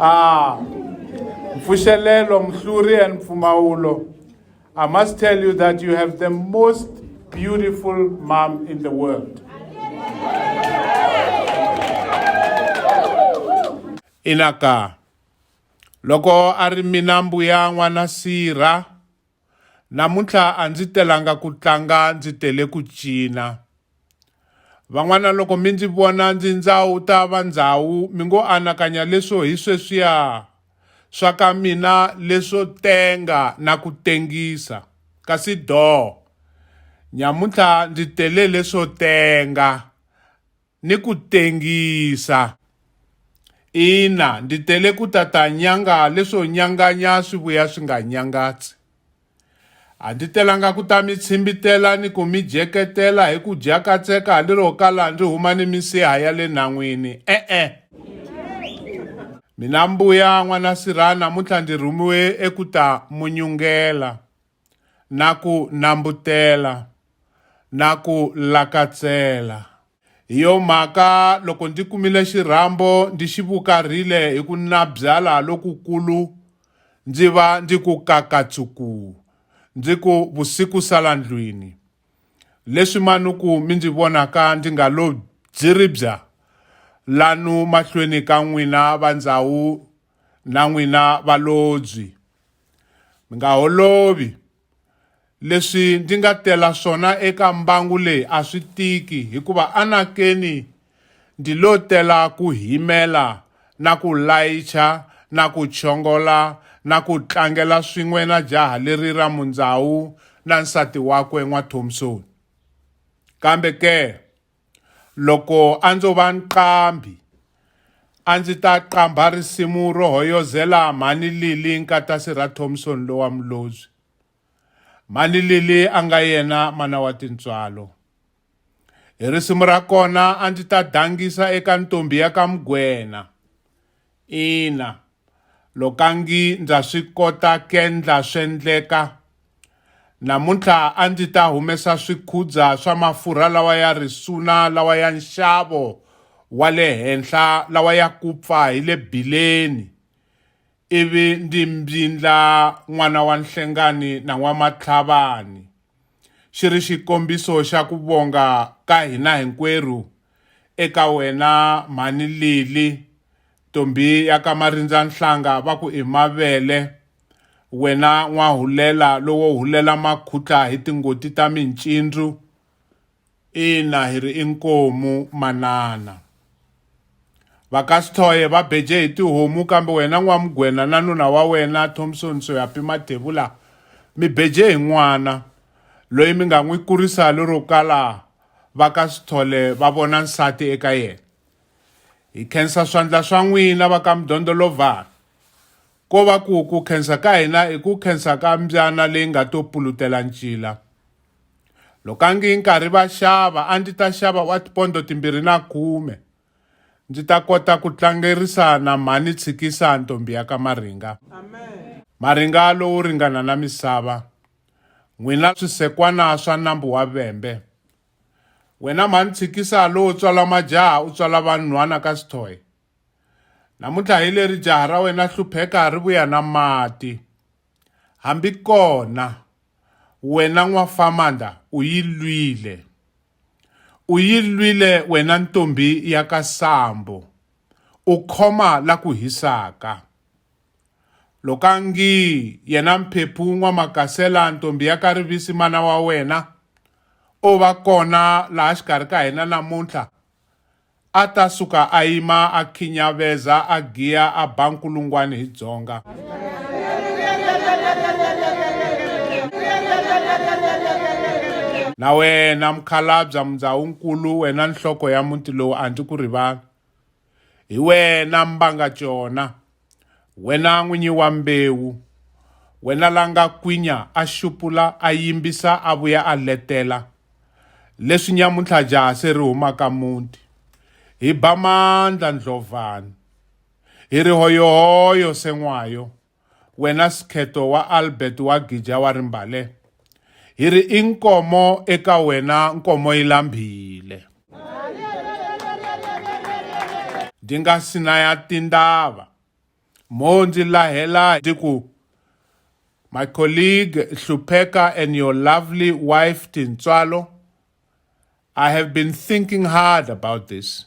ah mfushelelo mhluri and mfumaulo i must tell you that you have the most beautiful mom in the world inaka loko a ri mina mbuya n'wana sirha Namuntlha a ndzi telanga ku tlanga ndzi tele ku cina. Van'wana loko mi ndzi vona ndzi ndzawu ta va ndzawu mi ngo anakanya leswo hi sweswiya swa ka mina leswo tenga na ku tengisa kasi doo nyamuntlha ndzi tele leswo tenga. ni ku tengisa. Ina, ndi tele ku ta ta nyanga leswo nyanganya swi vuya swi nga nyangatsi. A ndi telanga ku ta mi tshimbitela ni ku mi jeketela hi ku dya katseka lero kala ndzi huma ni misiha ya le nhan'wini. E-e. Mina mbuya n'wana sirha namuntlha ndzi rhumiwe eku ta munyungela. na ku nambutela na ku lakatsela. Hi yo mhaka loko ndzi kumile xirhambo ndzi xi vukarhile hi ku nabyala lokukulu, ndzi va ndzi ku kakatsuku, ndzi ku vusiku sala ndlwini. Leswi manuku mi ndzi vonaka ndzi nga lo bziribza lanu mahlweni ka n'wina va ndzawu na n'wina valobyi, mi nga holovi. Leswi ndzi nga tela swona eka mbangu leyi a swi tiki, hikuva anakeni ndzi lo tela ku himela na ku layicha na ku chongola na ku tlangela swin'we na jaha leri ra Mundzawu na nsati wakwe N'wa Thompson. Kambe ke, Loko a ndzo va nqambhi, a ndzi ta qambha risimu ro hoyozela Mhani Lili nkatasi ra Thompson lowa Mlozvi. Mhani Lili a nga yena mana wa tintswalo. Hi risimu ra kona a ndzi ta dangisa eka ntombhi ya ka Mgwena. Ina, lokangi ndza swi kota kendla swendleka. Namuntlha a ndzi ta humesa swikhudza swa mafurha lawa ya risuna lawa ya nxavo wa le henhla lawa ya kupfa hi le bileni, ivi ndzi mbyindla n'wana wa nhlengani na n'wamatlhavani. xi ri xikombiso xa ku vonga ka hina hinkwerhu eka wena mhani Lili ntombi ya ka Marindza Nhlanga va ku i mavele wena n'wahulela lowo hulela makhutla hi tingoti ta mincindzu Ina hi ri inkomu manana. Va ka Sithoye va beje hi tihomu kambe wena N'wamugwena na nuna wa wena Thompson Soyapi Mathevula mi beje hi n'wana loyi mi nga n'wi kurisa lero kala va ka Sithole va vona nsati eka yena. Hi khensa swandla swa n'wina va ka Mudondolovhana. Ko va ku ku khensa ka hina i ku khensa ka mbyana leyi nga to pulutela ncila. Loko a ngi nkarhi va xava a ndzi ta xava wa tipondo timbirhi na khume ndzi ta kota ku tlangerisa na mhani tshikisa ntombi ya ka Maringa. Amen. Maringa lowu ringana na misava. N'wina swisekwana swa nambu wa Vembe. Wena mhani tshikisa lowo tswala majaha u tswala vanhwana ka Sithoye. Namuntlha hi leri jaha ra wena Hlupheka ri vuya na mati. Hambikona wena n'wafamanda u yi lwile, u yi lwile wena ntombhi ya ka Sambo, u khoma la ku hisaka. Lokangi yena Mphephu N'wamakasela ntombhi ya ka Rivisi mana wa wena, o va kona laha xikarhi ka hina namuntlha, A ta suka a yima a khinyaveza a giya a ba nkulungwani hi dzonga. Na wena mukhalabya Mundzahunkulu wena nhloko ya muti lowu a ndzi ku rivali. Hi wena Mbanga Cona Wena n'winyi wa mbewu, wena la nga kwinya a xupula a yimbisa a vuya a letela, leswi nyamuntlha jaha se ri huma ka muti, hi ba mandla ndlovhani, hi ri hoyohoyo sen'wayo, wena Skhetho wa Albert wa Gija wa Rimbale, hi ri i nkomo eka wena nkomo yi lambhile ndi nga si na ya tindava mo ndzi lahela ndzi ku my colleague hlupheka and your lovely wife tintswalo i have been thinking hard about this